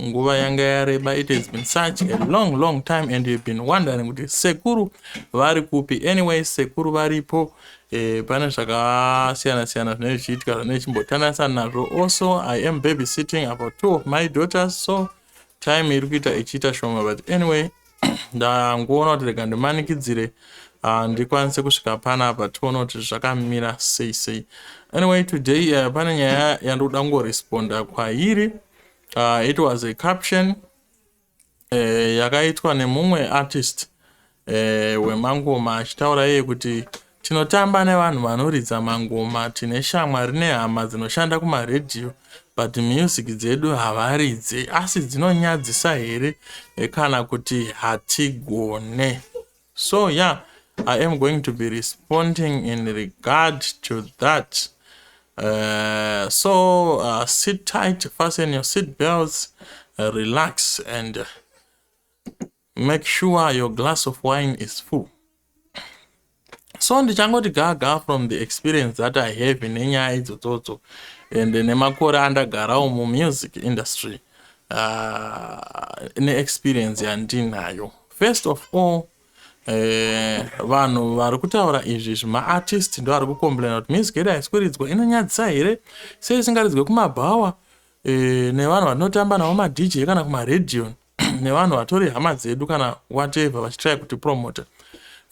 nguva yanga yareba it has been such a long long time and you've been wondering kuti sekuru vari kupi anyway sekuru varipo eh, pane zvakasiyana siyana zvinenge zvichiitika zvinenge chimbotanasa nazvo also i am baby sitting about two of my daughters so time iri kuita ichiita shoma but anyway ndangoona kuti rega ndimanikidzire uh, ndikwanise kusvika panapa tione kuti zvakamira sei sei anyway today uh, pane nyaya yandikuda kungoresponda kwairi uh, it was a caption uh, yakaitwa nemumwe artist uh, wemangoma achitaura iye kuti Tinotamba nevanhu vanoridza mangoma tine shamwari nehama dzinoshanda kumaredhiyo but music dzedu havaridze asi dzinonyadzisa here eh, kana kuti hatigone so yeah i am going to be responding in regard to that uh, so uh, sit tight fasten your seat belts uh, relax and uh, Make sure your glass of wine is full. So ndichangoti gaga from the experience that I have nenyaya idzodzotso and nemakore andagarawo muMusic industry uh, neexperience yandinayo. First of all, Eh, vanhu vari kutaura izvi zvimaartist ndo ari kucomplaina kuti music yedu haisikwiridzwa inonyadzisa here sei isingaridzwe kumabhawa eh, nevanhu vatinotamba navo madj kana kumaradion nevanhu vatori hama dzedu kana whatever vachitry kuti promoter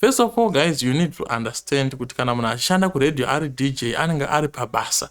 first of all guys you need to understand kuti kana munhu achishanda kuradio ari dj anenge ari pabasa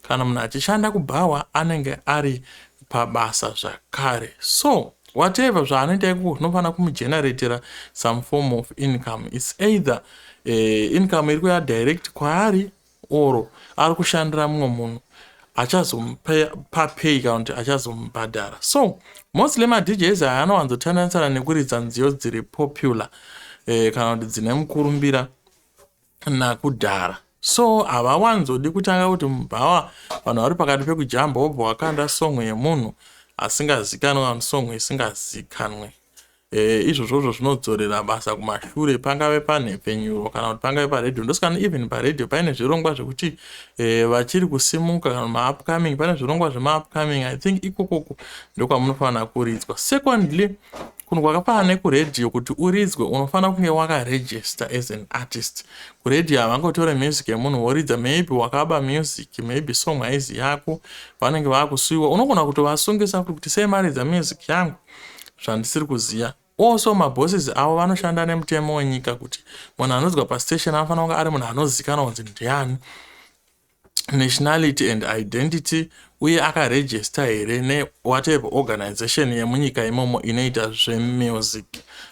kana munhu achishanda kubhawa anenge ari pabasa zvakare so whatever zvaanoita ikoko zvinofanira kumugeneratera some form of income its either uh, income iri kuya direct kwaari Or ari kushandira mumwe munhu achazomupa pay kana kuti achazomubhadhara. So mostly maDJs aya anowanzotandanisana nekuridza nziyo dziri popular eh, kana kuti dzine mukurumbira nakudhara so havawanzodi kutanga kuti mubhawa vanhu vari pakati pekujamba wobva wakanda song yemunhu asingazikanwe vanhu song isingazikanwe E, izvozvozvo zvinodzorera basa kumashure pangave panhepfenyuro kana kuti pangave paredhio ndosikana even paredhio paine zvirongwa zvekuti e, vachiri kusimuka kana maupcoming pane zvirongwa zvemaupcoming i think ikokoko ndokwamunofanira kuridzwa secondly kunhu kwakafanana nekuredhio kuti uridzwe unofanira kunge wakaregister as an artist kuredhio havangotore music yemunhu woridza maybe wakaba music maybe song haizi yako vanenge vakusuiwa unogona kutovasungisa kuti sei maridza music yangu zvandisiri kuziva also mabosses avo vanoshanda nemutemo wenyika kuti munhu anodzwa pastation anofanira kunge ari munhu anozikana kunzi ndiani nationality and identity uye akaregista here newhatever organization yemunyika imomo inoita zvemusic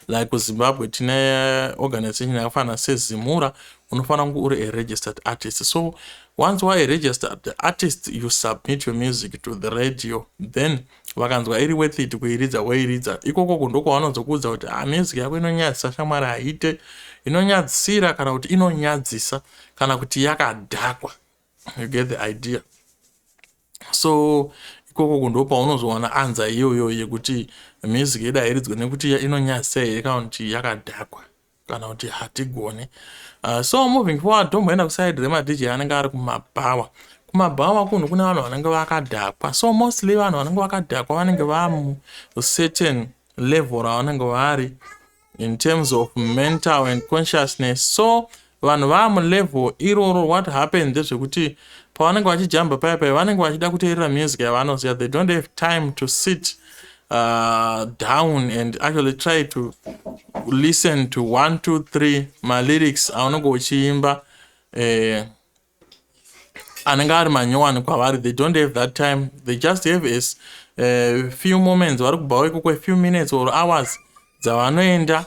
like kuzimbabwe tine organization yakafanana sezimura unofanira kunge uri aregistered artist so once waregistered artist you submit your music to the radio then vakanzwa iri worth it kuiridza woiridza ikokoku ndokwavanozokuudza kuti ah, music yako inonyadzisa shamwari haite inonyadzisira kana kuti inonyadzisa kana kuti yakadhakwa you get the idea so ikokoku ndo paunozowana anza iyoyo yekuti music yedu hairidzwe nekuti inonyadzisa here kana kuti yakadhakwa kana kuti hatigone uh, so moving forward tomboenda kuside remadj anenge ari kumabhawa kumabhawa kunhu kune vanhu vanenge vakadhakwa so mostly vanhu vanenge vakadhakwa vanenge vamucertain level ravanenge vari in terms of mental and consciousness so vanhu vaamulevel iroro what happened ndezvekuti pavanenge vachijamba paya paya vanenge vachida kuteerera music yavanoziva they don't have time to sit uh, down and actually try to listen to one two three malyrics aunenge uchiimba eh, anenge ari manyowani kwavari they don't have that time they just have as uh, few moments vari kubvawo ikoko a few minutes or hours dzavanoenda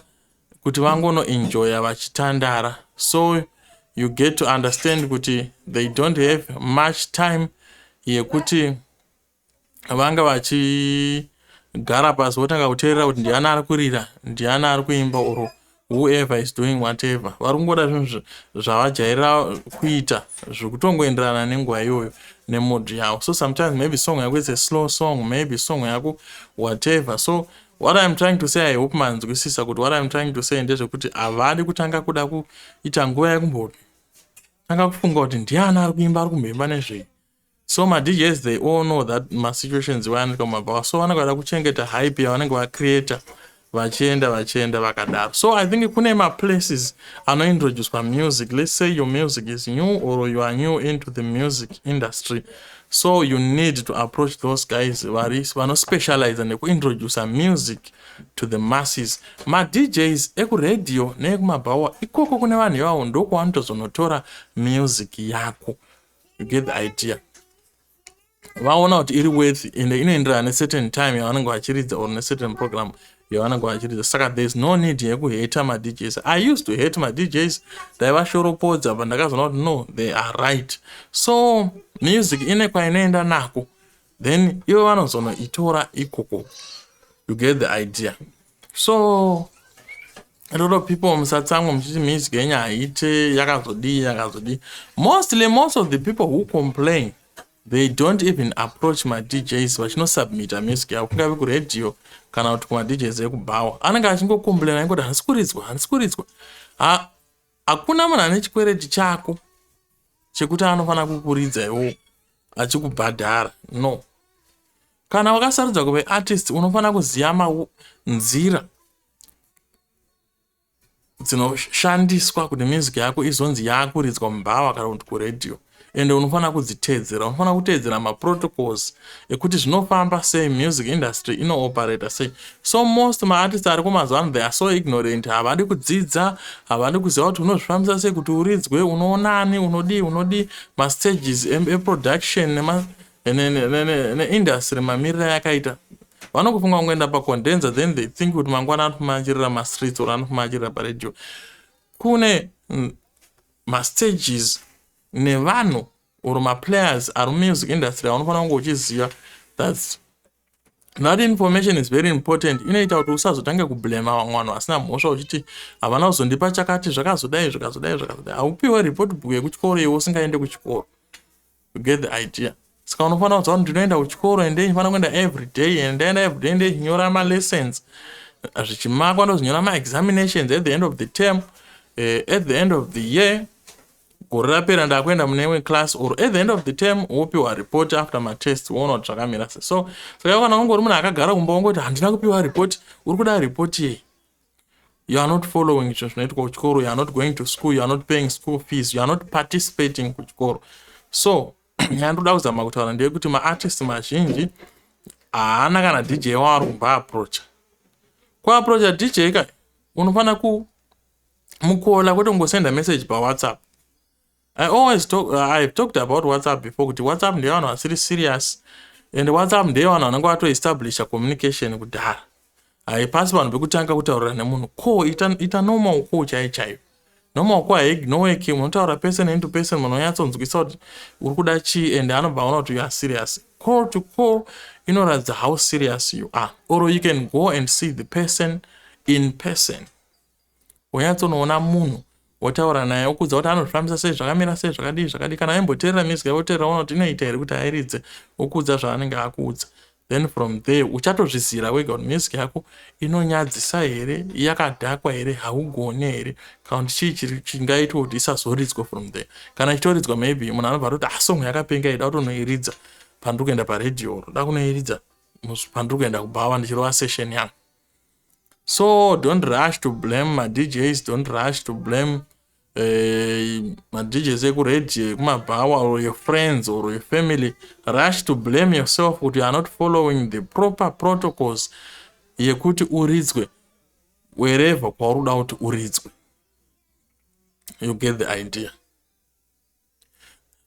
kuti vangonoenjoya vachitandara so you get to understand kuti they don't have much time yekuti yeah, vanga vachigara pasi votanga kuteerera kuti ndiani ari kurira ndiani ari kuimba or whoever is doing whatever vari kungoda zvinhu zvavajaira kuita zvekutongoenderana nenguva iyoyo nemood yavo so sometimes maybe song yako is a slow song maybe song yako whatever so what iam trying to say i hope manzwisisa kuti what iam trying to say ndezvekuti havadi kutanga kuda kuita nguva yekumboti tanga kufunga kuti ndiani ari kuimba ari kumhemba nezvei so madjs they all know that masituations iwayo anoitwa mumabhawa so vanenge vada kuchengeta hype yavanenge vacreata vachienda vachienda vakadaro so i think kune maplaces anointroducwa music let's say your music is new or you are new into the music industry so you need to approach those guys vari vanospecializa nekuintroduca music to the masses madjs ekuradio neekumabhawa ikoko kune vanhu ivavo ndokwavanotozonotora music yako you get the idea vaona kuti iri worth and inoenderana necertain time yavanenge vachiridza or necertain program yavanenge vachiridza saka there is no need yekuheta madjs i used to hate madjs ndaivashoropodza but ndakazoona kuti no they are right so music ine kwainoenda nako then ivo vanozonoitora ikoko you get the idea so A lot of people musatsamwa muchiti music yenyu haite yakazodii yakazodii. Mostly most of the people who complain they don't even approach ma DJs vachinosubmita music yavo kungave kuradio kana kuti kuma DJs ekubhawa. Anenge achingocomplaina ingoti handisi kuridzwa handisi kuridzwa. Ha, hakuna munhu ane chikwereti chako chekuti anofanira kukuridza iwo achikubhadhara no kana wakasarudza kuve artist unofanira kuziva nzira dzinoshandiswa kuti music yako izonzi yakuridzwa mubhawa kana kuti kuradio ende unofanira kudziteedzera unofanira kuteedzera maprotocols ekuti zvinofamba sei music industry inooperata sei so most maartist ari kumazuva ano they are so ignorant havadi kudzidza havadi kuziva kuti unozvifambisa sei kuti uridzwe unoonani unodii unodii mastages eproduction neindustry mamiriro ayakaita vanokufunga kungoenda pacondenser then they think kuti mangwana anofumaachirira mastreets or anofumaachirira paradio kune mm, mastages nevanhu or maplayers ari mumusic industry aunofanira kunge uchiziva thats that information is very important inoita kuti usazotange kublema vamwe vanhu vasina mhosva uchiti havana kuzondipa chakati zvakazodai zvakazodai zvakazodai haupiwe report book yekuchikoro iwe usingaende kuchikoro you get the idea saka unofanira kuziva kuti ndinoenda kuchikoro ende ndinofanira kuenda everyday and ndaenda everyday ndechinyora malessons zvichimakwa ndozinyora maexaminations at the end of the term uh, at the end of the year gore rapera ndakuenda mune imwe class or at the end of the term wopiwa report after matest woona kuti zvakamira se so saka kana wangori munhu akagara kumba wongoti handina kupiwa report uri kuda report yei you are not following izvo zvinoitwa kuchikoro you are not going to school you are not paying school fees you are not participating kuchikoro so nyaya ndoda kuzama kutaura ndeyekuti maartist mazhinji haana kana dj waari kumba aprocha kuaprocha dj ka unofanira kumukola kwete kungosenda message pawhatsapp I always talk, uh, I've talked about WhatsApp before kuti WhatsApp ndeyo vanhu vasiri serious and WhatsApp ndeyo vanhu vanenge vatoestablisha communication kudhara haipasi vanhu vekutanga kutaurira nemunhu ko ita, ita normal ko chai chaiyo normal ko haignoweki munotaura person to person munhu onyatsonzwisa kuti uri kuda chii and anobva aona kuti youare serious call to call inoratidza how serious you are or you can go and see the person in person wonyatsonoona munhu wotaura naye wokuudza kuti anozvifambisa sei zvakamira sei zvakadii zvakadii kana aimboteerera music yavo woteerera ona kuti inoita here kuti airidze wokuudza zvaanenge akuudza then from there uchatozvizira wega kuti music yako inonyadzisa here yakadhakwa here haugone here kana kuti chii chiri chingaitwa kuti isazoridzwa from there kana ichitoridzwa maybe munhu anobva atoti asong ah, yakapenga ida kutonoiridza pandiri kuenda paradio ro da kunoiridza pandiri kuenda kubhawa ndichirova session yangu so don't rush to blame madjs don't rush to blame eh, madjs ekuradio ekumabhawa or your friends or your family rush to blame yourself kuti you are not following the proper protocols yekuti uridzwe wherever kwauri kuda kuti uridzwe you get the idea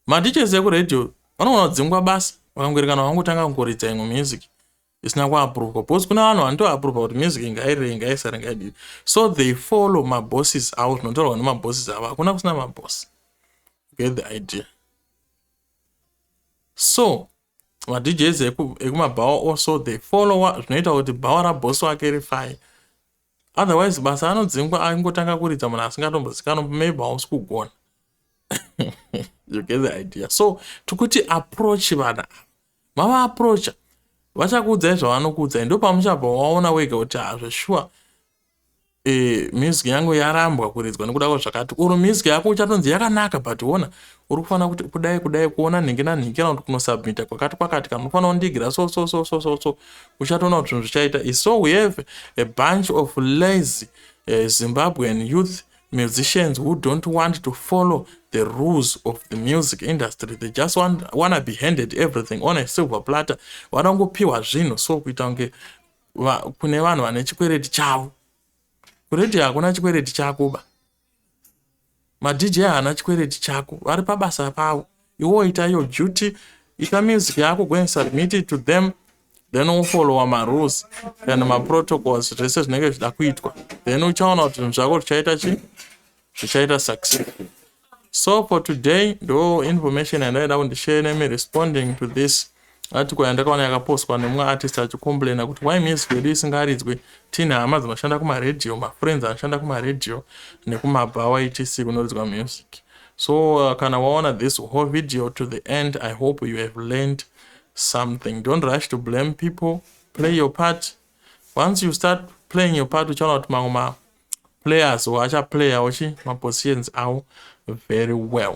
madjs ekuradio vanogona kudzingwa basa vakangoerekana vangotanga kungoridza imwe music isina kuapruvwa because kune vanhu vanotoapruvha kuti music ngairei ngaisare ngaidii so they follow mabosses avo zvinotaurwa nemabosses avo hakuna kusina maboss get the idea so madjs ekumabhawa eku also they follow zvinoita kuti bhawa raboss wake rifai otherwise basa anodzingwa angotanga kuridza munhu asingatombozikanwa maybe hausi kugona you get the idea so tikuti approach vana ava Mava approacha vachakuudzai zvavanokuudzai ndopamuchabva waona wega kuti ha zveshuwa e, music yangu yarambwa kuridzwa nekuda kwazvakati or music yako uchatonzi yakanaka but wona uri kufanira kuti kudai kudai kuona nhingi nanhingi kana kuti kunosubmita kwakati kwakati kana unofanira kundigira so so so so so so uchatoona kuti zvinhu zvichaita iso we have a bunch of lazy uh, zimbabwean youth musicians who don't want to follow the rules of the music industry they just want, wanna be handed everything on a silver platter vanongopiwa zvinhu so kuita kunge va, kune vanhu vane chikwereti chavo kuredio hakuna chikwereti chako ba madj haana chikwereti chako vari pabasa pavo iwo ita your duty ita music yako go and submit it to them then wofollowa marules kana maprotocols zvese zvinenge zvichida kuitwa then uchaona kuti zvinhu zvako zvichaita chi zvichaita successful so for today ndo information yandaida kundishare nemi responding to this Article yandakaona yakapostwa nemumwe artist achicomplaina kuti why music yedu isingaridzwe tiine hama dzinoshanda kumaradio mafriends anoshanda kumaradio nekumabhawa etc kunoridzwa music so uh, kana waona this whole video to the end i hope you have learned something don't rush to blame people play your part once you start playing your part uchaona kuti mamwe maplayers achaplayawo chi mapositions awo very well